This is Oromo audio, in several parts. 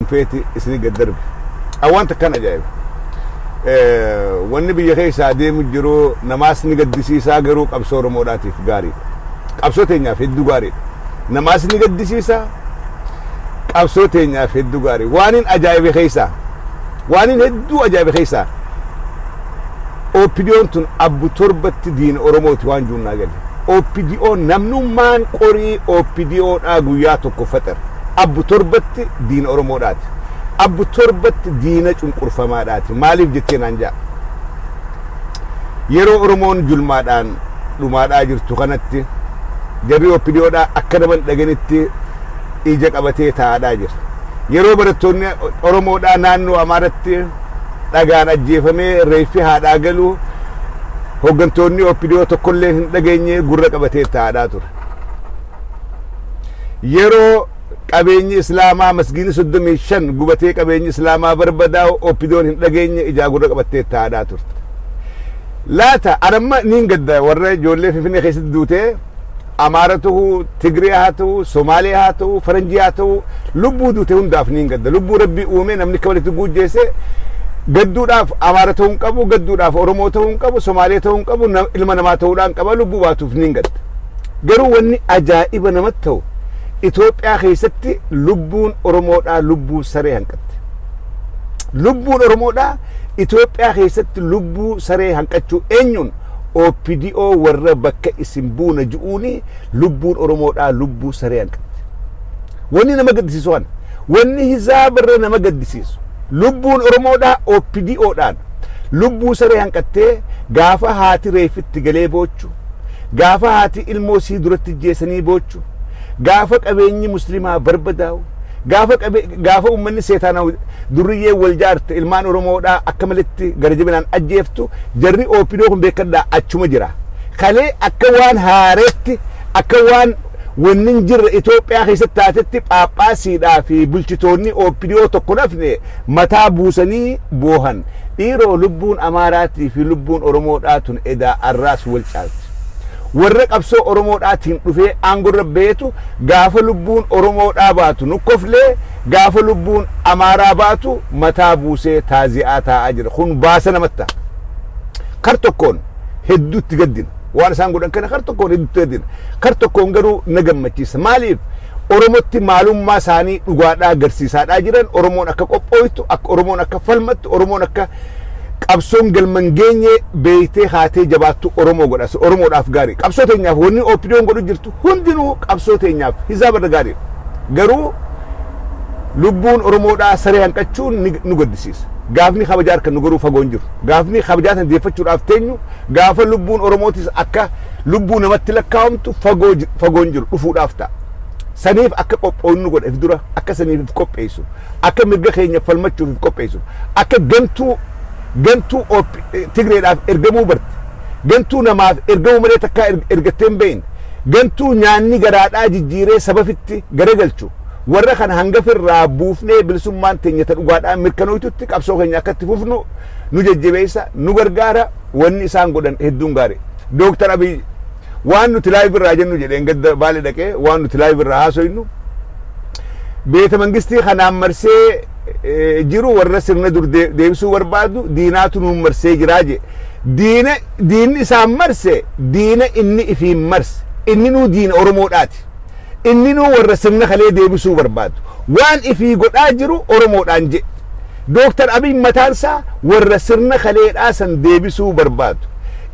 feeti isinii gad darbe awwaan takkaan ajaa'iba wanni biyya keessaa deemu jiru namaas ni gaddisiisaa garuu qabsoo oromoodhaatiif gaariidha qabsoo teenyaaf hedduu gaariidha namaas ni gaddisiisaa qabsoo teenyaaf hedduu gaarii waanin ajaa'ibe keessaa waanin hedduu ajaa'ibe keessaa OPDOn tun abbu torbatti diina Oromooti waan juunnaa gale. OPDO namnummaan qorii OPDO dhaa guyyaa tokko faxar. Abbu torbatti diina Oromoo dhaati. Abbu torbatti diina cunqurfamaa dhaati. Maaliif jettee naan ja'a? Yeroo Oromoon julmaadhaan dhumaadhaa jirtu kanatti jarri OPDOdhaa akka nama hin dhagenitti ija qabatee taa'aadhaa jira. Yeroo barattoonni Oromoodhaa naannoo Amaaratti dhagaan ajjeefamee reeffi haadhaa galu hooggantoonni OPDO tokkolleen hin dhageenye gurra qabatee taa'aadhaa ture. Yeroo Qabeenyi islaamaa masgiidni 35 gubatee qabeenyi islaamaa barbadaa'u OPDOn hin dhageenye ijaa gurra qabattee itti haadhaa turte. Laata an amma niin gadda warra ijoollee Finfinnee keessatti duutee Amaara ta'u, Tigree haa ta'u, Somaalee haa ta'u, Faranjii haa ta'u lubbuu duute hundaaf niin gadda. Lubbuu rabbii uumee namni akka walitti guujjeesse gadduudhaaf Amaara ta'uu hin qabu, gadduudhaaf Oromoo ta'uu hin qabu, Somaalee ta'uu hin qabu, ilma namaa ta'uudhaan qaba lubbuu baatuuf niin gadda. Garuu wanni ajaa'iba namatti ta'u Itoophiyaa keessatti lubbuun Oromoodhaa lubbuu saree hanqatte. Lubbuun Oromoodhaa Itoophiyaa keessatti lubbuu saree hanqachuu eenyuun OPDO warra bakka isin buuna ji'uuni lubbuun Oromoodhaa lubbuu saree hanqatte. Wanni nama gaddisiisu kana. Wanni hizaabarra nama gaddisiisu. Lubbuun Oromoodhaa OPDOdhaan lubbuu saree hanqattee gaafa haati reeffitti galee boochu gaafa haati ilmoo sii duratti jeesanii boochu jiraachuu, gaafa qabeenyi Muslimaa barbadaa'u, gaafa qabe gaafa ummanni seetaanaw durriyyeen wal jaarte ilmaan Oromoodhaa akka maletti gara jabinaan ajjeeftu jarri OPDO kun beekadhaa achuma jira. Kalee akka waan haareetti akka waan wanni hin jirre Itoophiyaa keessatti taatetti phaaphaasiidhaa fi bulchitoonni OPDO tokko nafne mataa buusanii boohan. Dhiiroo lubbuun Amaaraatii fi lubbuun Oromoodhaa tun edaa arraas wal caalti. Warra qabsoo Oromoo dhaatiin dhufee aangorra bahetu gaafa lubbuun Oromoo dhaa baatu nu koflee gaafa lubbuun Amaaraa baatu mataa buusee taazi'aa taa'aa jira. Kun baasa namatti ta'a. Kar tokkoon hedduutti gaddina. Waan isaan godhan kana kar tokkoon hedduutti gaddina. Kar tokkoon garuu na gammachiisa. Maaliif? Oromotti maalummaa isaanii dhugaadhaa agarsiisaadhaa jiran Oromoon akka qophooytu, akka Oromoon akka falmattu, Oromoon akka qabsoon galma hin geenye beeytee kaatee jabaattu Oromoo godha. Sun Oromoodhaaf gaarii. Qabsoo teenyaaf wanni OPDOn godhu jirtu hundinuu qabsoo teenyaaf hisaaba irra gaarii. Garuu lubbuun Oromoodhaa saree hanqachuun ni nu gaddisiisa. Gaafni kabajaa harka nu garuu fagoo hin jiru. Gaafni kabajaa tan deeffachuudhaaf teenyu gaafa lubbuun Oromootis akka lubbuu namatti lakkaa'amtu fagoo ji- fagoon jiru dhufuudhaaf ta'a. Saniif akka qophoonnu godha if dura akka saniif if qopheessu akka mirga keenya falmachuuf if qopheessu akka gantuu gantuu OP Tigreedhaaf ergamuu barte gantuu namaaf ergamuu malee takkaa erg- ergattee hin beekne gantuu nyaanni garaadhaa jijjiiree sabafitti garagalchu warra kana hanga firraa buufnee bilisummaan teenya ta dhugaadhaan mirkanooytutti qabsoo keenya akkatti fufnu nu jajjabeessa nu gargaara Wanni isaan godhan hedduun gaari. Dooktar Abiy waan nuti live irraa jennu jedheen gadda baale dhaqee waan nuti live irraa haasoynu beeta mangistii kanaan marsee eh, jiru warra sirna dur dee- deebisuu barbaadu diinaatu nuun marsee jiraa je. Diina diinni isaan marse diina inni ifiin marse inni nuu diina Oromoodhaati. Inni nuu warra sirna kalee deebisuu barbaadu. Waan ifii godhaa jiru Oromoodhaan je. Dooktar Abiy mataan isaa warra sirna kaleedhaa san deebisuu barbaadu.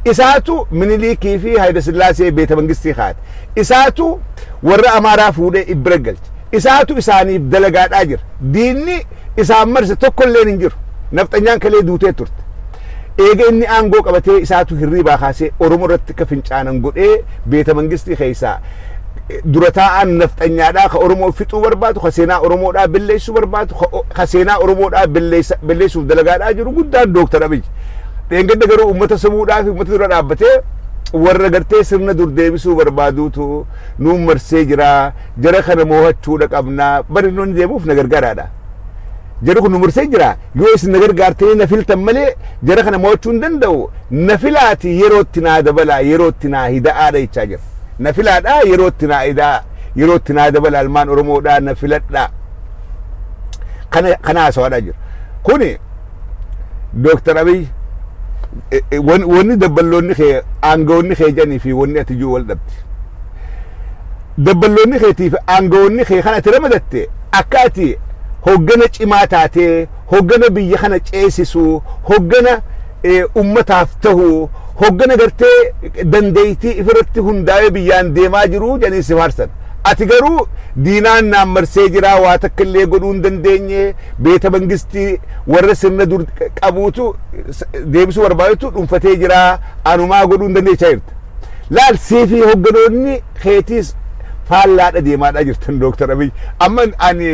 Isaatu Miniliikii fi Hayilasillaasee beeta mangistii kaa'ate. Isaatu warra Amaaraa fuudhee if bira galche. Isaatu isaaniif dalagaadhaa jira. Diinni isaan marse tokkolleen hin jiru. Nafxanyaan kalee duutee turte. Eega inni aangoo qabatee isaatu hirriibaa kaasee Oromoo irratti akka fincaanan godhee beeta mangistii keessaa dura taa'aan nafxanyaadhaa ka Oromoo fixuu barbaadu ka seenaa Oromoodhaa belleessuu barbaadu ka o- ka seenaa Oromoodhaa belleessa- belleessuuf dalagaadhaa jiru guddaan Dooktar Abiy. Dheengadda garuu uummata sabuudhaa fi uummata dura dhaabbatee warra gartee sirna dur deebisuu barbaaduutu nuun marsee jira jara kana moohachuudha qabna bari nuun deemuuf na gargaaraadha. Jarri kun nu marsee jira Yoo isin na gargaartanii na filtan malee jara kana mo'achuu hin danda'u. Na filaatii yerootti naa dabalaa yerootti naa hida'aa dha jechaa jira. Na filaadhaa yerootti naa hida'aa yerootti naa dabalaa ilmaan Oromoodhaa na filadhaa. Kana kana haasawaadhaa jira. Kuni Dooktar Abiy eh, eh, wan- wanni dabballoonni kee aangawoonni kee jedhanii fi wanni ati jiru wal dhabdi. Dabballoonni keetii fi aangawoonni kee kan ati ramadatte akka ati hoggana cimaa taatee, hoggana biyya kana ceesisu, hoggana ummataaf tahu, hoggana gartee dandeeytii ifirratti hundaawee biyyaan deemaa jiru jedhanii si faarsan. Ati garuu diinaan naan marsee jira, waa takka illee godhuu hin dandeenye, beeta mangistii warra sirna dur qabuutu deebisuu barbaadutu dhunfatee jira, anumaa godhuu hin dandeenye jechaa jirta. Laal sii fi hogganoonni keetiis faallaadha deemaadhaa jirtan Dooktar Abiy. Amma ani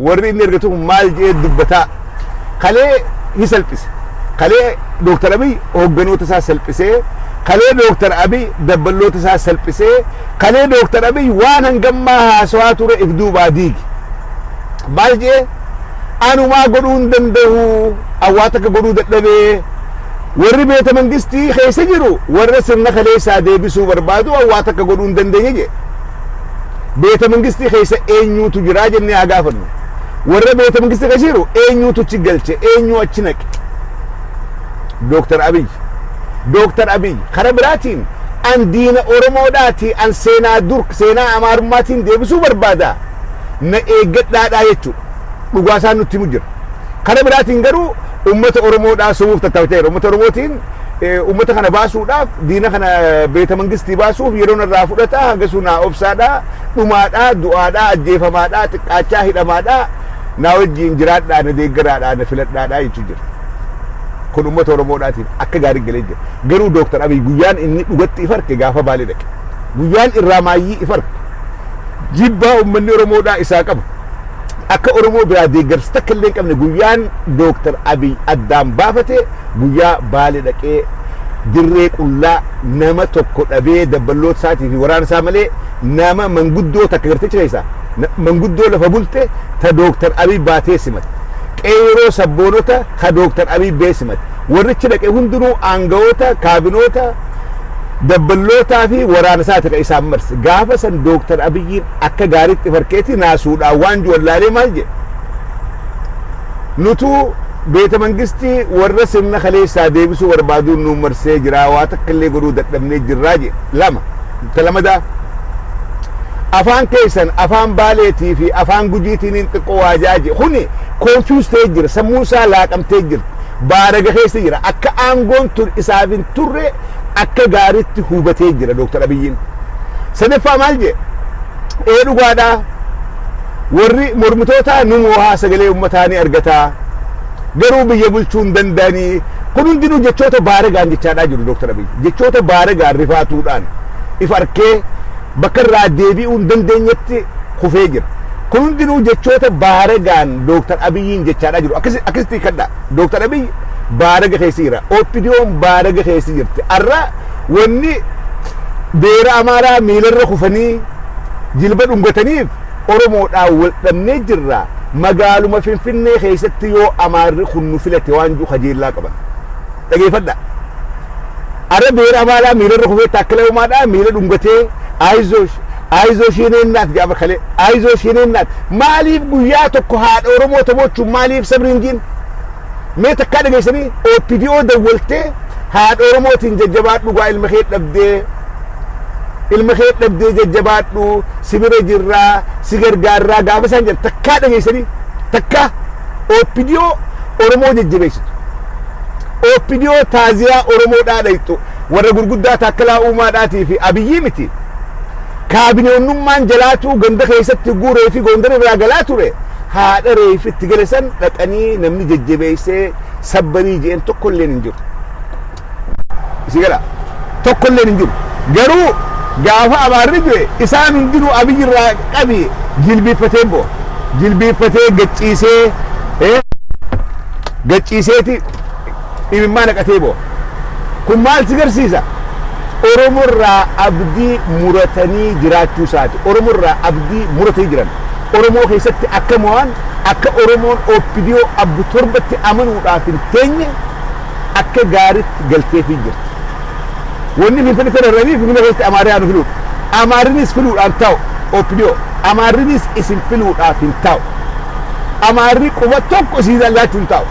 warri inni ergatu kun maal jedhee dubbataa kalee ni salphise. Kalee Dooktar Abiy hogganoota isaa salphisee kalee Dooktar Abiy dabballoota isaa salphisee kalee Dooktar Abiy waan hangammaa haasawaa ture if duubaa diigi. Maal jedhee anumaa godhuu hin danda'u awwaata akka godhuu dadhabee Warri beeta mangistii keessa jiru warra sirna kaleessaa deebisuu barbaadu waan waa takka godhuu hin dandeenye jedhe. Beeta mangistii keessa eenyuutu jiraa jennee haa gaafannu. Warra beeta mangistii keessa jiru eenyuutu achi galche eenyuu achi naqe. Dooktar Abiy. Dooktar Abiy kara biraatiin an diina Oromoodhaati an seenaa dur seenaa Amaarummaatiin deebisuu barbaada na eeggadhaadhaa jechuudha. Dhugaa isaan nutti himu jira. Kara biraatiin garuu Uummata Oromoodhaa sumuuf tattaafachaa jira. Uummata Oromootiin uummata kana baasuudhaaf diina kana beeta mangistii baasuuf yeroo narraa fudhata hanga sunaa obsaadhaa dhumaadhaa du'aadhaa ajjeefamaadhaa xiqqaachaa hidhamaadhaa naa wajjiin jiraadhaa na deeggaraadhaa na filadhaadhaa jechuu jira. Kun uummata Oromoodhaatiif akka gaarii galee jira. Garuu Dooktar Abiy guyyaan inni dhugatti if arke gaafa baalee dhaqe. Guyyaan irraa maayyii if arke. Jibbaa uummanni Oromoodhaa isaa qabu akka Oromoo biraa deeggarsa takka illee hin qabne guyyaan Dooktar Abiy addaan baafate guyyaa Baale dhaqee dirree qullaa nama tokko dhabee dabballoota isaatii fi waraana isaa malee nama manguddoo takka gartichi keessaa na- manguddoo lafa bulte ta Dooktar Abiy baatee simate. Qeeroo sabboonota ka Dooktar Abiy bee simate. Warrichi dhaqe hundinuu aangawoota kaabinoota Dabballootaa fi waraana isaati ka isaan marse. Gaafa san Dooktar Abiyyiin akka gaariitti farkeetii naasuudhaan waan ju'an laalee maal jedhe? Nutuu beeta mangistii warra sirna kaleessaa deebisuu barbaaduun nuun marsee jiraa waa takka illee godhuu dadhabnee jirraa jedhe. Lama. Ta lamadaa afaan keessan afaan baaleetii fi afaan gujiitiin xiqqoo waajaa jedhe. Kuni confuse ta'ee jira. Sammuun isaa laaqamtee jirti. baaraga keessa jira. Akka aangoon tun isaaf hin turre akka gaaritti hubatee jira Dooktar Abiyyiin. Sadaffaa maal jee? Ee dhugaadhaa warri mormitootaa nu moohaa sagalee uummataa ni argataa garuu biyya bulchuu hin danda'anii kun hundinuu jechoota baaragaan jechaadhaa jiru Dooktar Abiyyi. Jechoota baaragaan rifaatuudhaan if arkee bakka irraa deebi'uu hin dandeenyetti kufee jira. Kun hundinuu jechoota baaragaan Dooktar Abiyyiin jechaadhaa jiru. Akkasi- Akkasitti hiikkadhaa. Dooktar Abiyyi baaraga keessa jira. OPDOn baaraga keessa jirti. Har'a wanni beera Amaaraa miilarra kufanii jilba dhungataniif Oromoodhaan wal dhabnee jirra. Magaaluma Finfinnee keessatti yoo Amaarri kun nu filate waan jiru kajeellaa qaban. Dhageeffadhaa. Are beera maalaa miilarra kufee taakkila umaadhaa miila dhungatee Ayizoosh Ayizoosh yene innaat jedha bakale Ayizoosh yene innaat maaliif guyyaa tokko haadha Oromoo taboochuun maaliif sabni hin jiin mee takkaa dhageessanii OPDO dawwaltee haadha Oromootiin jajjabaadhu gaa ilma kee dhabdee ilma kee dhabdee jajjabaadhu si bira jirraa si gargaarraa gaafa isaan jedhan takkaa dhageessanii takkaa OPDO Oromoo jajjabeessitu. OPDO taaziyaa Oromoo dhaadhayxu warra gurguddaa Taakkalaa Uumaadhaatii fi Abiyyii miti. Kaabineonnummaan jalaatuu ganda keessatti hogguu reefi Goondar irraa galaa ture haadha reefi itti gale san dhaqanii namni jajjabeessee sabbarii jeen tokkolleen hin jiru. Isii gala tokkolleen hin jiru. Garuu gaafa abaarri du'e isaan hundinuu Abiyyi irraa qabi jilbiiffatee bo'o. Jilbiiffatee gacciisee Gad ciiseeti imimmaa naqatee boo'a. Kun maal si garsiisa? Oromo irraa abdii muratanii jiraachuu isaati. Oromo irraa abdii muratanii jiran. Oromoo keessatti akka mo'an, akka Oromoon OPDO abbu torbatti amanuudhaaf hin teenye akka gaaritti galteefii jirti. Wanni Finfinnee sana irranii Finfinnee keessatti Amaarri haa nu filuudha. Amaarrinis filuudhaan taa'u OPDO. Amaarrinis isin filuudhaaf hin taa'u. Amaarri quba tokko isiirraa laachuun taa'u.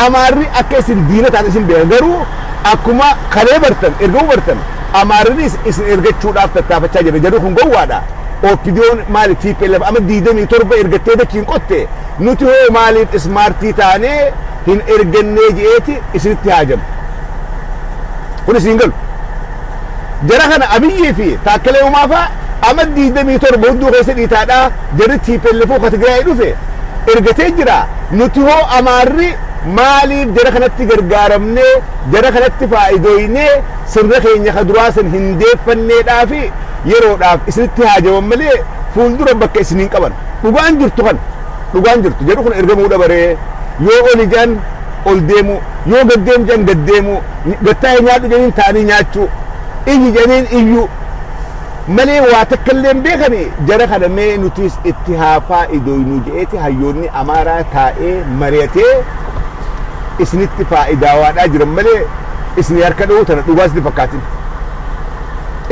Amaarri akka isin diina taatan isin beeka garuu akkuma kalee bartan ergamuu bartan Amaarrinis isin ergachuudhaaf tattaafachaa jira jarri kun gowwaadha. OPDOn maali tplf ama 27 ergattee dachiin qotte nuti hoo maaliif ismaartii taanee hin ergannee je'eeti isinitti haajamu. Kun isin galu. Jara kana Abiyyii fi Taakkalee Uumaa fa'a Amad 27 hudduu keessa dhiitaadhaa jarri TPLFo ka Tigraay dhufe ergatee jira nuti hoo Amaarri maaliif jara kanatti gargaaramnee jara kanatti faayidooynee sirna keenya ka duraa san hin deeffanneedhaa fi yeroodhaaf isinitti haajaman malee fuuldura bakka isin hin qaban dhugaan jirtu kan dhugaan jirtu jarri kun ergamuu dhabaree yoo oli jedhan ol deemuu, yoo gad deemi jedhan gad deemuu, gad taa'i nyaadhu jedhaniin taa'anii nyaachuu, iyyi jedhaniin iyyuu malee waa takka illee hin beekani jara kana mee nutiis itti haa faa'idoynu jedheeti hayyoonni Amaaraa taa'ee mari'atee isinitti faa'idaawaadhaa jiran malee isinii harka dha'uu tana dhugaa isinitti fakkaatin.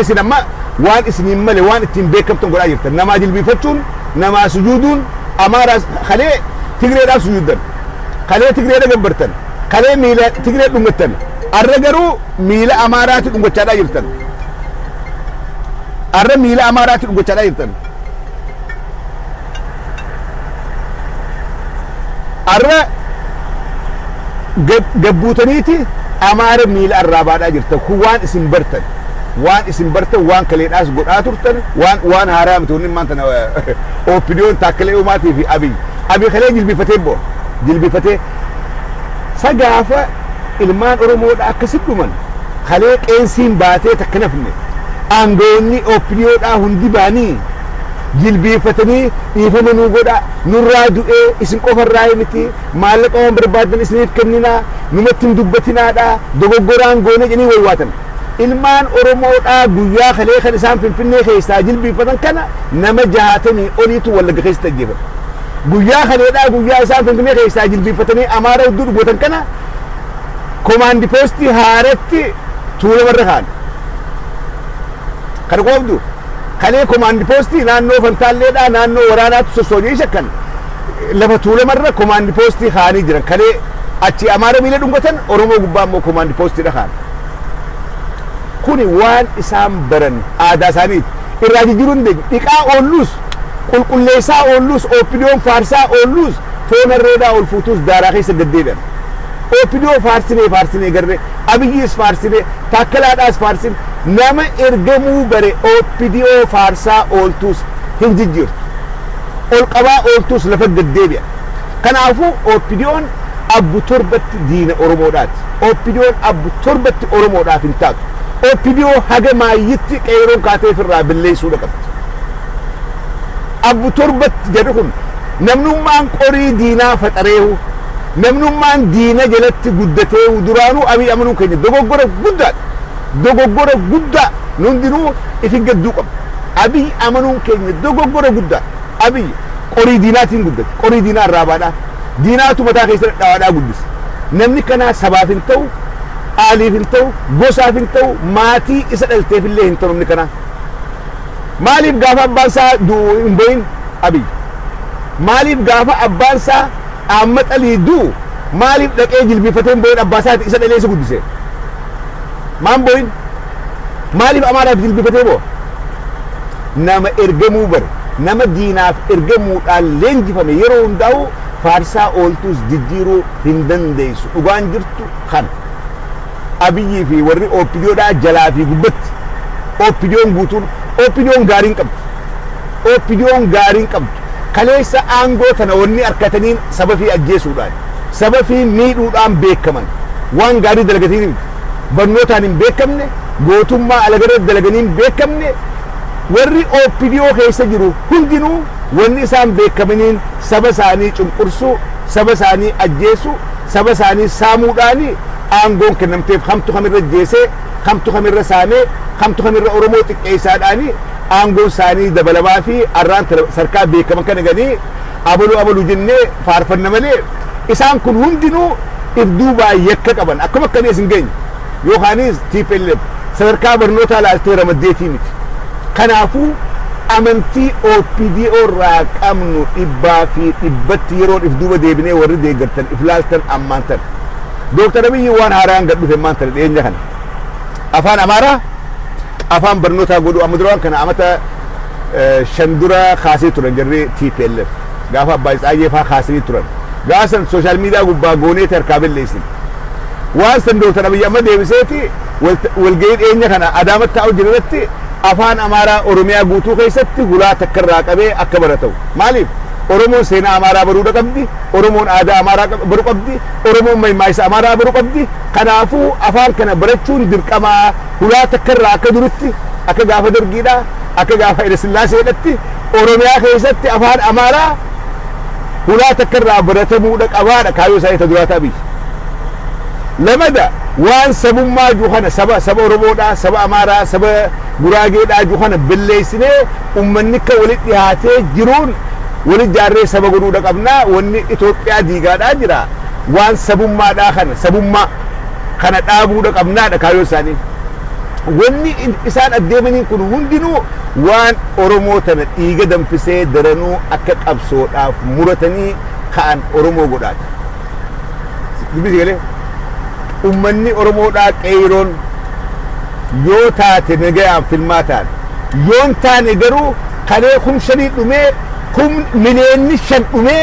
Isin amma waan isiniin male waan ittiin beekamtan godhaa jirtan namaa jilbiifachuun namaa sujuuduun Amaaraas kalee Tigreedhaaf sujuuddan. kalee Tigreedha gabbartan, kalee miila Tigree dhungattan, arra garuu miila Amaaraati dhungachaadhaa jirtan. Arra miila Amaaraati dhungachaadhaa jirtan. Arra gad gad buutaniiti Amaara miila arraabaadhaa jirtan. Kun waan isin bartan. Waan isin bartan waan kaleedhaas godhaa turtan waan waan haaraa miti wanni maanta na OPDOn Taakkalee Uumaatii fi Abiy Abi kalee jilbifatee bo. Jilbifatee. Sa gaafa ilmaan Oromoo dha akkasi dhuman kalee qeensiin baatee takka nafne aangawoonni OPDO dhaa hundi baanii jilbiifatanii dhiifama nuu godha nurraa du'ee isin qofa irraa miti maallaqa waan barbaadan isiniif kenninaa numatti hin dubbatinaa dhaa dogoggoraan goonee jedhanii waywaatan. Ilmaan Oromoo dhaa guyyaa kalee kan isaan Finfinnee keessaa jilbiiffatan kana nama 60 oliitu Wallagga keessatti ajjeefame. Guyyaa kalee dhaa guyyaa isaan Finfinnee keessaa jilbiiffatanii Amaara udduu dhugootan kana komaandi poostii haaratti tuulama irra kaa'an. Kana qoobdu kalee komaandi poostii naannoo Fantaallee dhaa naannoo waraanaatti sossoonii shakkan lafa tuulama irra komaandi poostii kaa'anii jiran kalee achi Amaara miila dhungatan Oromoo gubbaa immoo komaandi poostii dha kaa'an. Kuni waan isaan baran aadaa isaaniiti. Irraa jijjiiruu hin dandeenyu. Dhiqaa oollus, qulqulleessaa oollus, OPDOn faarsaa oollus, foon harreedhaa ol fuutuus daaraa keessa gad deebi'an. OPDO faarsinee faarsinee garre, Abiyyiis faarsine, Taakkalaadhaas faarsin, nama ergamuu bare OPDO faarsaa ooltuus hin jijjiirtu. Ol qabaa ooltuus lafa gad deebi'an. Kanaafuu OPDOn abbu torbatti diina Oromoodhaati. OPDOn abbu torbatti Oromoodhaaf hin taatu. OPDO haga maayyitti qeeyroon kaatee firraa billeeysuudha qabdi. Abbu torbatti jarri kun namnummaan qorii diinaa faxareehu, namnummaan diina jalatti guddateehu duraanuu Abiy amanuun keenya dogoggora guddaadha. Dogoggora guddaa nu hundinuu ifi gadduu qabna. Abiy amanuun keenya dogoggora guddaadha. Abiy Qorii diinaatiin guddate. Qorii diinaa arraabaadhaa. Diinaatu mataa keessa dhadhawaadhaa guddise. Namni kanaa sabaaf hin ta'u, aaliif hin ta'u, gosaaf hin ta'u, maatii isa dhalteef illee hin ta'u namni kanaa. Maaliif gaafa abbaan isaa du'u hin boyin Abiy? Maaliif gaafa abbaan isaa Ahmad Alii du'u maaliif dhaqee jilbiifatee hin boyin abbaa isaati isa dhalee isa guddise? Maan boyin? Maaliif Amaaraaf jilbifatee boo'a? Nama ergamuu bare, nama diinaaf ergamuudhaan leenjifame yeroo hundaa'uu faarsaa ooltuus jijjiiruu hin dandeessu. Dhugaan jirtu kana. Abiyyii fi warri OPDOdhaa jalaa fi gubbatti. OPDOn guutuun OPDOn gaariin qabdu. OPDOn gaariin qabdu. Kaleessa aangoo tana wanni arkataniin sabafii ajjeesuudhaan, sabafii miidhuudhaan beekaman waan gaarii dalagatanii miti. barnootaan hin beekamne, gootummaa alaga irratti dalaganii hin beekamne, warri OPDO keessa jiru hundinuu wanni isaan beekamaniin saba isaanii cunqursuu, saba isaanii ajjeesuu, saba isaanii saamuudhaan aangoon kennamteef kamtu kamirra ajjeesee, kamtu kamirra saamee, kamtu kamirra Oromoo xiqqeessaadhaan aangoon isaanii dabalamaa fi arraan tana sarkaa beekaman kana ganii abalu abalu jennee faarfanna malee Isaan kun hundinuu if duubaan yakka qaban akkam akka biyya isin geenye yookaanis tplf sadarkaa barnootaa ilaaltee ramaddeetii miti. Kanaafuu amantii OPDO irraa qabnu dhibbaa fi dhibbatti yeroon if duuba deebinee warri deeggartan if laaltan ammaan tana. Dooktar Abiyyi waan haaraan gad dhufe ammaan tana dhiyeenya kana. Afaan Amaaraa afaan barnootaa godhuu amma dura waan kana amata shan dura kaasee turan jarri tplf. Gaafa Abbaay Tsaayyee faa kaasanii turan. Gaafa san social media gubbaa gooneeti harkaa belleessine. Waan san Dr. Abiyyi amma deebiseeti walgahii dhiyeenya kana Adaamatti taa'u jiru irratti Afaan Amaaraa Oromiyaa guutuu keessatti hulaa takka irraa qabee akka baratau. Maaliif? Oromoon seenaa Amaaraa baruudha qabdi, Oromoon aadaa Amaaraa baru qabdi, Oromoon maymaaisa Amaaraa baru qabdi. Kanaafuu afaan kana barachuun dirqama. Hulaa takka irraa akka duritti, akka gaafa Dargiidhaa, akka gaafa Hayila Sillaaseedhatti Oromiyaa keessatti Afaan Amaaraa hulaa takka irraa baratamuudha qabaadha kaayyoo isaanii ta duraa ta Abiyyi. Lamada waan sabummaa ju kana saba saba Oromoodhaa, saba Amaaraa, saba Guraageedhaa ju kana belleessinee ummanni akka walitti dhihaatee jiruun wali jaarree saba godhuudha qabnaa wanni Itoophiyaa diigaadhaa jira waan sabummaadhaa kana sabummaa kana dhaabuudha qabnaadha kaayoo isaanii. Wanni isaan addeemaniin kun hundinuu waan Oromoo tana dhiiga danfisee daranuu akka qabsoodhaaf muratanii ka'an Oromoo godhaati. Dubbisi galee ummanni Oromoodhaa qeeyroon yoo taate nagayaan filmaa taane yoon taane garuu kalee kum shanii dhumee kum mileenni shan dhumee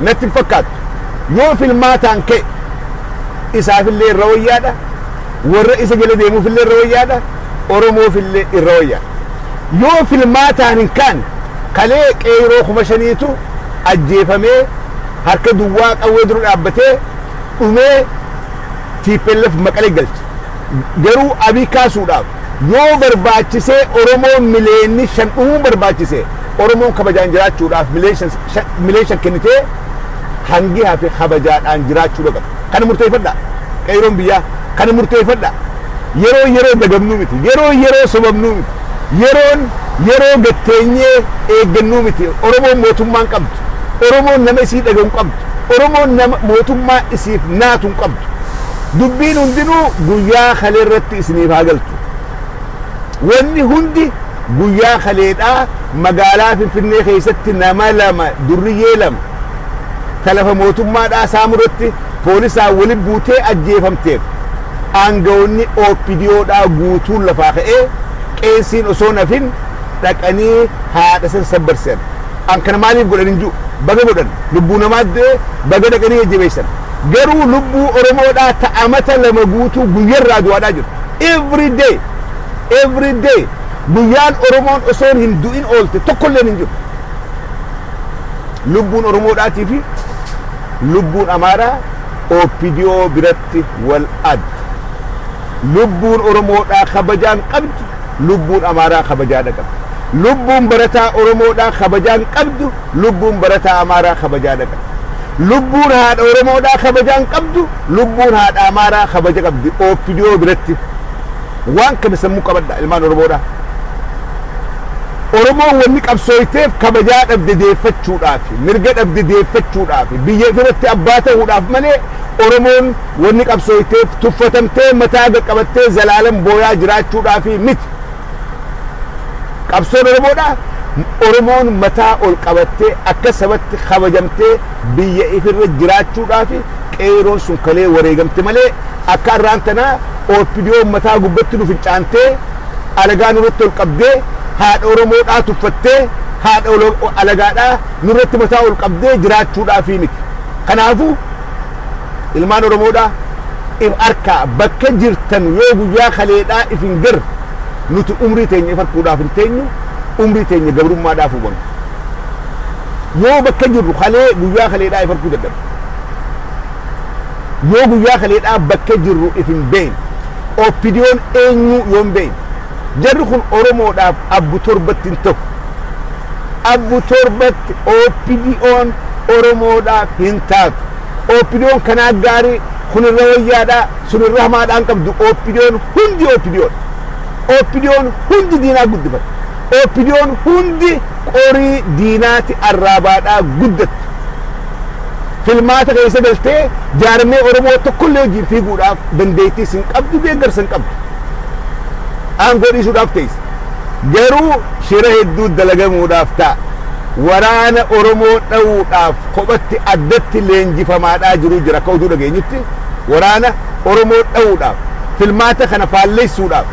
natti hin fakkaattu. Yoo filmaataan ka'e isaafillee irra wayyaadha, warra isa jala deemuufillee irra wayyaadha, Oromoofillee irra wayyaadha. Yoo filmaataan hin kaane kalee qeeyroo kuma shaniitu ajjeefamee harka duwwaa qawwee dura dhaabbatee dhumee tplf Maqalee galche. Garuu Abiy kaasuudhaaf yoo barbaachisee Oromoon miliyeenni shan dhumuun barbaachise Oromoon kabajaan jiraachuudhaaf miliyen shan kennitee hangi hafe kabajaadhaan jiraachuudha qaba. Kana murteeffadhaa. Qeeyroon biyyaa kana murteeffadhaa. Yeroo yeroo dagabnuu miti. Yeroo yeroo sobamnuu miti. Yeroon yeroo gad teenyee eeggannuu miti. Oromoon mootummaa hin qabdu. Oromoon nama isii dhagahu hin qabdu. Oromoon nama mootummaa isiif naatu hin qabdu. Dubbiin hundinuu guyyaa kalee irratti isiniif haa galtu. Wanni hundi guyyaa kaleedhaa magaalaa Finfinnee keessatti nama lama durriyyee lama ta lafa mootummaadhaa saamu irratti poolisaan wali buutee ajjeefamteef aangawoonni OPDOdhaa guutuun lafaa ka'ee qeensiin osoo hin hafin dhaqanii haadha san sabbarsan. An kana maaliif godhan hin jiru. Baga godhan. Lubbuu namaa du'e baga dhaqanii jajjabeessan. Garuu lubbuu oromoodhaa ta amata lama guutuu guyyarraa du'aadhaa jirtu. Every day every day guyyaan oromoon osoon hin du'in oolte tokkolleen hin jiru. Lubbuun oromoodhaatii fi lubbuun amaaraa OPDO biratti wal adda. Lubbuun oromoodhaa kabajaan qabdu lubbuun amaaraa kabajaadha qabdi. Lubbuun barataa oromoodhaa kabajaan qabdu Lubbuun barataa Amaaraa kabajaa dhaqan. Lubbuun haadha Oromoodhaa kabajaa hin qabdu, lubbuun haadha Amaaraa kabaja qabdi OPDO biratti. Waan kana sammuu qabadhaa ilmaan Oromoodhaa. Oromoon wanni qabsooyteef kabajaa dhabde deeffachuudhaafi, mirga dhabde deeffachuudhaafi, biyya ifirratti abbaa ta'uudhaaf malee Oromoon wanni qabsooyteef tuffatamtee mataa gad qabattee zalaalam booyaa jiraachuudhaafi miti. Qabsoon Oromoodhaa Oromoon mataa ol qabattee akka sabatti kabajamtee biyya ifirra jiraachuudhaafi qeeyroon sun kalee wareegamte malee akka arraan tanaa OPDOn mataa gubbatti nu fincaantee alagaa nurratti ol qabdee haadha Oromoodhaa tuffattee haadha alagaadhaa nurratti mataa ol qabdee jiraachuudhaafii miti. Kanaafuu. ilmaan oromoodha if arkaa bakka jirtan yoo guyyaa kaleedhaa if hin gar nuti umrii teenya if harkuudhaaf hin teenyu umrii teenya gabrummaadhaaf hubanna yoo bakka jirru kalee guyyaa kaleedhaa if harkuu dadhabna yoo guyyaa kaleedhaa bakka jirru if hin beeyne oppidiyoon eenyuu yoo hin beeyne Jarri kun Oromoodhaaf Abbu Torbatti hin tahu. Abbu Torbatti OPDOn Oromoodhaaf hin taatu. OPDOn kanaa gaarii, kun irra wayyaadha, sun irra hamaadha hin qabdu. OPDOn hundi OPDOdha. OPDOn hundi diinaa guddifata. OPDOn hundi qorii diinaati arraabaadhaa guddatti. Filmaata keessa galtee jaarmee Oromoo tokkollee wajjin fiiguudhaaf dandeettiis hin qabdu, deeggarsa hin qabdu. aangoo dhiisuudhaaf teesse. Garuu shira hedduu dalagamuudhaaf ta'a. Waraana Oromoo dhawuudhaaf kophatti addatti leenjifamaadhaa jiruu jira akka oduu dhageenyutti waraana Oromoo dhawuudhaaf filmaata kana faallessuudhaaf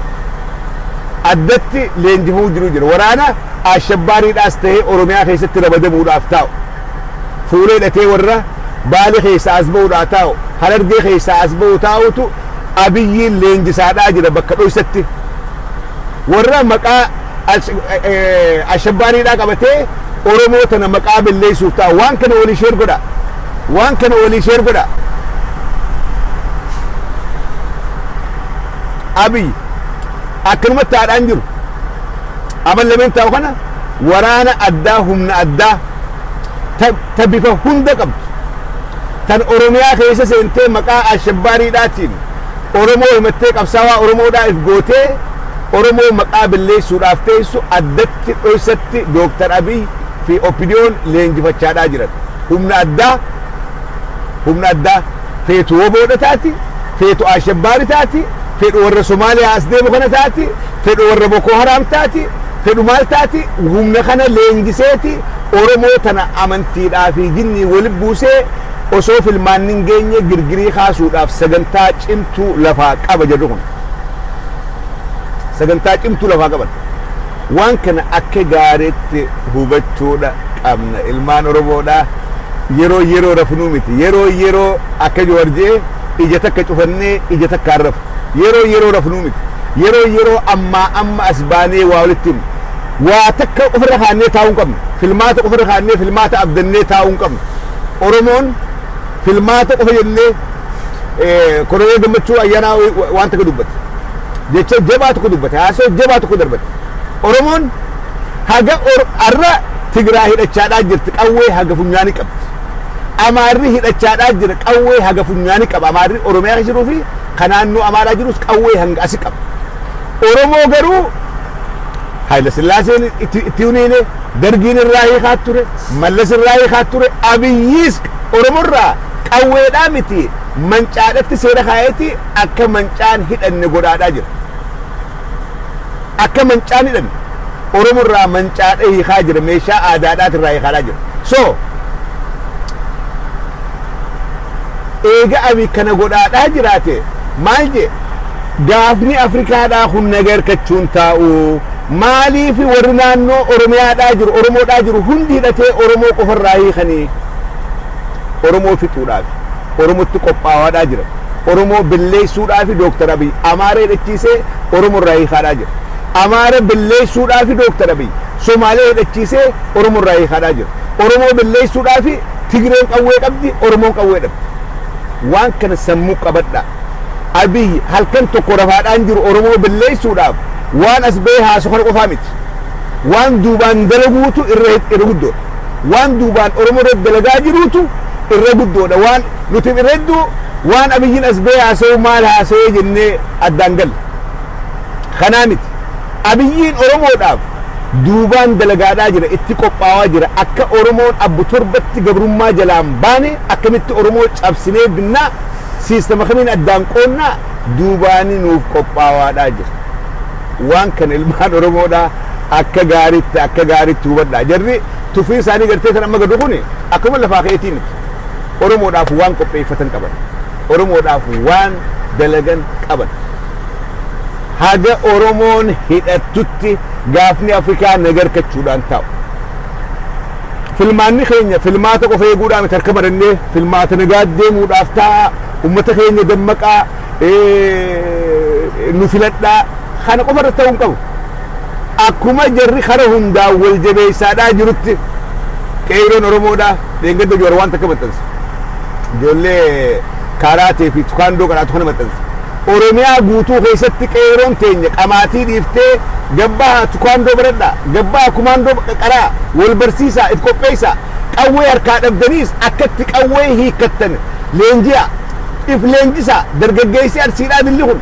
addatti leenjifamuu jiruu jira. Waraana Ashabbaariidhaas ta'ee Oromiyaa keessatti rabadamuudhaaf taa'u. fuula hidhatee warra Baale keessaa as ba'uudhaa taa'u, Harargee keessaa as ba'u taa'utu Abiyyiin leenjisaadhaa jira bakka dhoysatti. Warra maqaa Ashabbaariidhaa qabatee Oromoo tana maqaa belleessuuf taa'u. Waan kana walii sheer godha. Waan kana walii sheer godha. Abiy akkanumatti haadhaan jiru. Aban lameen taa'u kana Waraana addaa humna addaa ta ta bifa hunda qabdu, tan Oromiyaa keessa seentee maqaa Alshabbaariidhaatiin Oromoo himattee qabsaawaa Oromoodhaa if gootee Oromoo maqaa belleessuudhaaf teessu addatti dhoysatti Dr. Abiy fi OPDOn leenjifachaadhaa jiran. Humna addaa humna addaa feetu wbo dha taati, feetu Alshabbaari taati, fedhu warra Somaaliyaa as deemu kana taati, fedhu warra Bokoo Haraam taati, fedhu maal taati humna kana leenjiseeti oromoo tana amantiidhaa fi jinniin wali buusee osoo filmaanni hin geenye girgirii kaasuudhaaf sagantaa cimtuu lafaa qaba jarri kun sagantaa cimtuu lafaa qaban waan kana akka gaariitti hubachuudha qabna ilmaan oromoodha yeroo yeroo rafnuu miti yeroo yeroo akka jawar je'e ija takka cufannee ija takkaan rafu Yeroon yeroo rafnuu miti. Yeroon yeroo ammaa amma as baanee waa walitti himnu. Waa takka ofirra kaa'annee taa'uu hin qabnu. Filmaata ofirra kaa'annee filmaata abdannee taa'uu hin qabnu. Oromoon filmaata qofa jennee Koloneel Gammachuu Ayyaanaa waan takka dubbate. Jecha jabaa tokko dubbate. Haasoo jabaa tokko darbate. Oromoon haga har'a Tigraay hidhachaadhaa jirti qawwee haga funyaanii qabdi. Amaarri hidhachaadhaa jira qawwee haga funyaanii qaba. Amaarri Oromiyaa keessa jiruu fi ka naannoo Amaaraa jirus qawwee hanga asi qaba. Oromoo garuu Haayila Sillaaseen itti itti huniine Dargiin irraa hiikaa ture, Mallas irraa hiikaa ture, Abiyyiis Oromoo irraa qawweedhaa miti mancaadhatti seera kaa'eeti akka mancaan hidhanne godhaadhaa jira. Akka mancaan hidhame Oromo irraa mancaadhee hiikaa jira meeshaa aadaadhaati irraa hiikaadhaa jira. So eega Abiy kana godhaadhaa jiraate maal jee gaafni Afrikaadhaa kun naga hirkachuun taa'u maaliifi warri naannoo Oromiyaadhaa jiru Oromoodhaa jiru hundi hidhatee Oromoo qofa irraa hiikanii Oromoo fixuudhaaf Oromotti qophaawaadhaa jira. Oromoo billeessuudhaafi Dooktar Abiy Amaaree hidhachiisee Oromo irraa hiikaadhaa jira. Amaara billeessuudhaafi Dooktar Abiy Somaalee hidhachiisee Oromo irraa hiikaadhaa jira. Oromoo billeessuudhaafi Tigreen qawwee qabdi, Oromoon qawwee dhabdi. Waan kana sammuu qabadhaa. Abiy halkan tokko rafaadhaa hin jiru Oromoo billeessuudhaaf waan as bahee haasu kana qofaa miti. Waan duubaan dalaguutu irra guddoodha. Waan duubaan Oromoo irratti dalagaa jiruutu irra guddoodha. Waan Nuti irra hedduu waan Abiyyiin as bahee haasa'u maal haasa'ee jennee addaan galla. Kanaa miti. Abiyyiin Oromoodhaaf duubaan dalagaadhaa jira, itti qophaawaa jira. Akka Oromoon abbo torbatti gabrummaa jalaa hin baane, akkamitti Oromoo cabsinee binna, siistama kamiin addaan qoodna, duubaani nuuf qophaawaadhaa jira. Waan kana ilmaan Oromoodhaa akka gaariitti akka gaariitti hubadhaa. Jarri tufiin isaanii gartee tan amma gadhu kuni akkuma lafaa ka'eetii miti. Oromoodhaaf waan qopheeffatan qaban. Oromoodhaaf waan dalagan qaban. Haga Oromoon hidhattutti gaafni Afrikaa naga arkachuudhaan taa'u. Filmaanni keenya filmaata qofa eeguudhaan miti harka marannee filmaata nagaa deemuudhaaf taa'a. Uummata keenya dammaqaa nu filadhaa kana qofa irratti ta'uu hin qabu. Akkuma jarri kara hundaan wal jabeessaadhaa jirutti qeeyroon Oromoodhaa dheengadda Jowaar waan takka maxxanse. Ijoollee kaaraatee fi tukaandoo qaraatu kana maxxanse. Oromiyaa guutuu keessatti qeeyroon teenya qamaatii dhiiftee gabbaha tukaandoo baradhaa, gabbaha kumaandoo qaraa, wal barsiisaa, if qopheessaa, qawwee harkaa dhabdaniis akkatti qawwee hiikkattan leenji'aa, if leenjisaa, dargaggeessi Arsiidhaa dilli kun.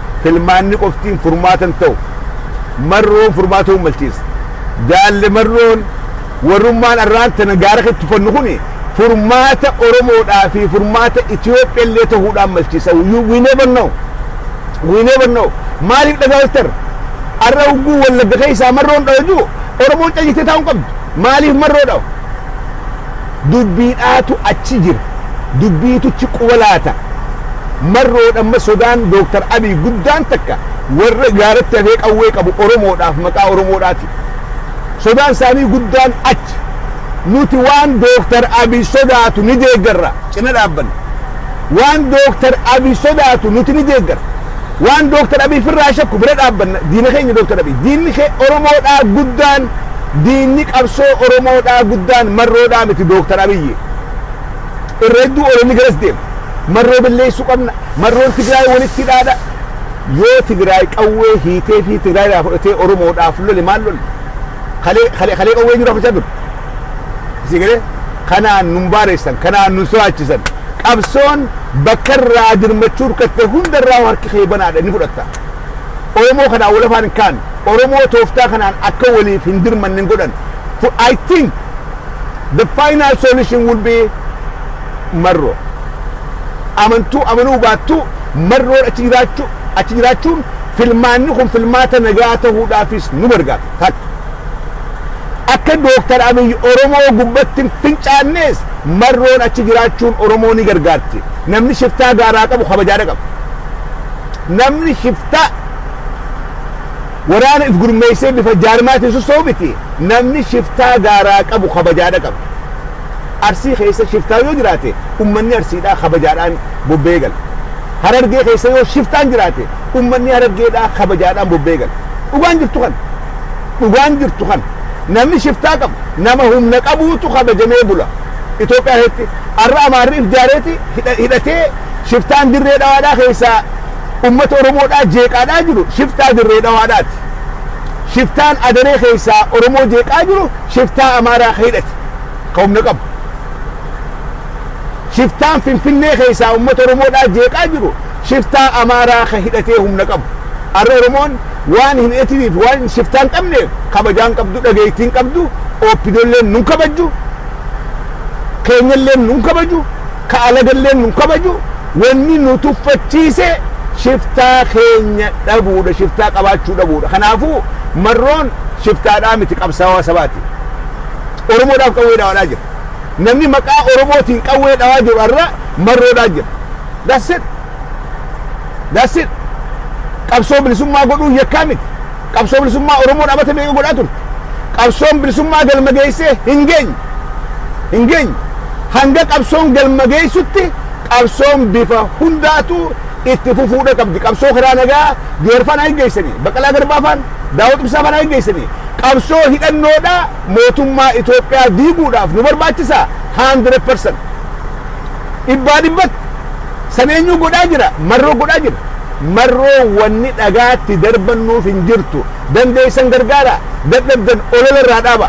filmaanni qoftiin furmaata hin ta'u. Marroon furmaata hin malchiisa. Jaalle Marroon warrummaan arraan tana gaara keetti tuffannu kun furmaata Oromoodhaa fi furmaata Itoophiyaa illee ta'uudhaan malchiisa. You- We never know. We never know. Maaliif dhagaa oltar? Arra ugguu wallagga keessaa marroon dhawaju Oromoon callisee taa'uu hin qabdu. Maaliif marroo dhawa? Dubbiidhaatu achi jira. Dubbiitu chi quba laata. Marroodha amma sodaan Dr. Abiy guddaan takka warra gaaratti hafee qawwee qabu Oromoodhaaf maqaa Oromoodhaatiif. Sodaan isaanii guddaan achi. Nuti waan Dr. Abiy sodaatu ni deeggarra. Cina dhaabbanna. Waan Dr. Abiy sodaatu nuti ni deeggarra. Waan Dooktar Abiy firraa shakku bira dhaabbanna, diina keenya Dooktar Abiy. Diinni ke Oromoo dhaa guddaan, diinni qabsoo Oromoo dhaa guddaan Marroo dhaa miti Dooktar Abiy. Irra hedduu ololli garas deema. Marroo balleessuu qabna, Marroon Tigraay walitti hidhaa dha. Yoo Tigraay qawwee hiitee fi Tigraay irraa fudhatee Oromoo dhaaf lole maal lolle? Kalee, kalee, kalee qawwee jiru hafachaa turte. Isin galee kanaan nun baareessan, kanaan nun soaachisan. Qabsoon bakka irraa dirmachuu irkatte hunda irraa harki kee banaadha ni fudhatta. Oromoo kanaan wal afaan hin kaanu. Oromoo tooftaa kanaan akka waliif hin dirmanne hin godhan. I think the final solution will be marroo. Amantuu amanuu baattuu marroon achi jiraachuu achi jiraachuun filmaanni kun filmaata nagaa ta'uudhaafis nu gargaara. Takka. Akka Dooktar Abiy Oromoo gubbatti hin fincaannees marroon achi jiraachuun Oromoo ni gargaarti. Namni shiftaa gaaraa qabu kabajaa dhaqaba. Namni shiftaa waraana if gurmeessee bifa jaarmaatiin sossoo'u miti. Namni shiftaa gaaraa qabu kabajaa dhaqaba. Arsii keessa shiftaa yoo jiraate ummanni Arsiidhaa kabajaadhaan bobba'ee gala. Harargee keessa yoo shiftaan jiraate ummanni Harargeedhaa kabajaadhaan bobba'ee gala. Dhugaan jirtu kana. Dhugaan jirtu kana. Namni shiftaa qabu, nama humna qabuutu kabajamee bula. Itoophiyaa keessatti har'a Amaarri if jaareeti hidhatee shiftaan dirree dhawaadhaa keessaa uummata Oromoodhaa jeeqaadhaa jiru shiftaa dirree dhawaadhaati. Shiftaan adaree keessaa Oromoo jeeqaa jiru shiftaa Amaaraa ka hidhate ka humna qabu. Shiftaan Finfinnee keessaa uummata Oromoodhaa jeeqaa jiru shiftaa Amaaraa ka hidhatee humna qabu. Arra Oromoon waan hin hidhatinii fi waan shiftaa hin qabneef kabajaa hin qabdu, dhageettii hin qabdu, OPDOlleen nun kabajju, keenyalleen nun kabaju, ka alagalleen nun kabaju, wanni nu tuffachiise shiftaa keenya dhabuudha, shiftaa qabaachuu dhabuudha. Kanaafuu Marroon shiftaadhaa miti qabsaawaa sabaati. Oromoodhaaf qawwee dhawadhaa jira. Namni maqaa Oromootiin qawwee dhawaa jiru har'a marroodhaa jira. That's it. That's it. Qabsoo bilisummaa godhuun yakkaa miti. Qabsoo bilisummaa Oromoon amata meeqa godhaa turte. Qabsoon bilisummaa galma geessee hin geenye. Hin geenye. Hanga qabsoon galma geessutti qabsoon bifa hundaatu itti fufuudha qabdi. Qabsoo karaa nagaa Joorfaan haa geggeessanii, Baqqalaa Garbaafaan, Daawud Ibsaafaan haa geggeessanii. Qabsoo hidhannoodhaa mootummaa Itoophiyaa diiguudhaaf nu barbaachisa 100%. Dhibbaa dhibbatti. San eenyuu godhaa jira? Marroo godhaa jira. Marroo wanni dhagaatti darbannuuf hin jirtu. Dandeessan gargaara. Dadhabdan olola irraa dhaaba.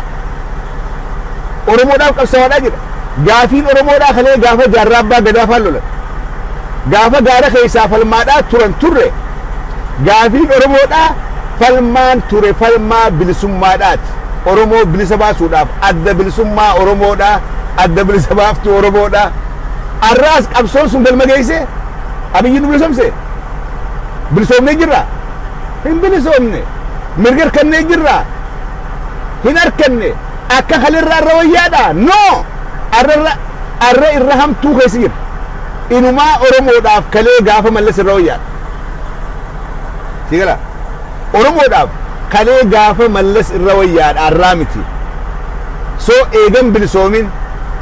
Oromoodhaaf qabsawaadhaa jira. Gaafiin Oromoodhaa kalee gaafa jaarraa abbaa gadaa faan lolan. Gaafa gaara keessaa falmaadhaa turan turre. Gaafiin Oromoodhaa falmaan ture falmaa bilisummaadhaati. Oromoo bilisa baasuudhaaf Adda Bilisummaa Oromoodhaa, Adda Bilisa Baaftuu Oromoodhaa. Arraas qabsoon sun galma geessee? Abiyyi nu bilisomse? Bilisoomnee jirraa? Hin bilisoomne. Mirga hirkannee jirraa? Hin harkanne. Akka kalirraa irra wayyaadhaa? No! Arra irra arra irra hamtuu keessa jirra. Inumaa Oromoodhaaf kalee gaafa mallas irra wayyaadha. Si gala? Oromoodhaaf kalee gaafa mallas irra wayyaadha har'aa miti. So eega hin bilisoomin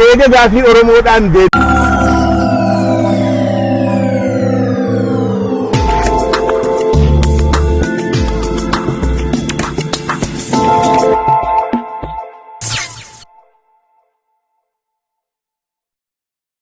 eega gaafii Oromoodhaan deebiin.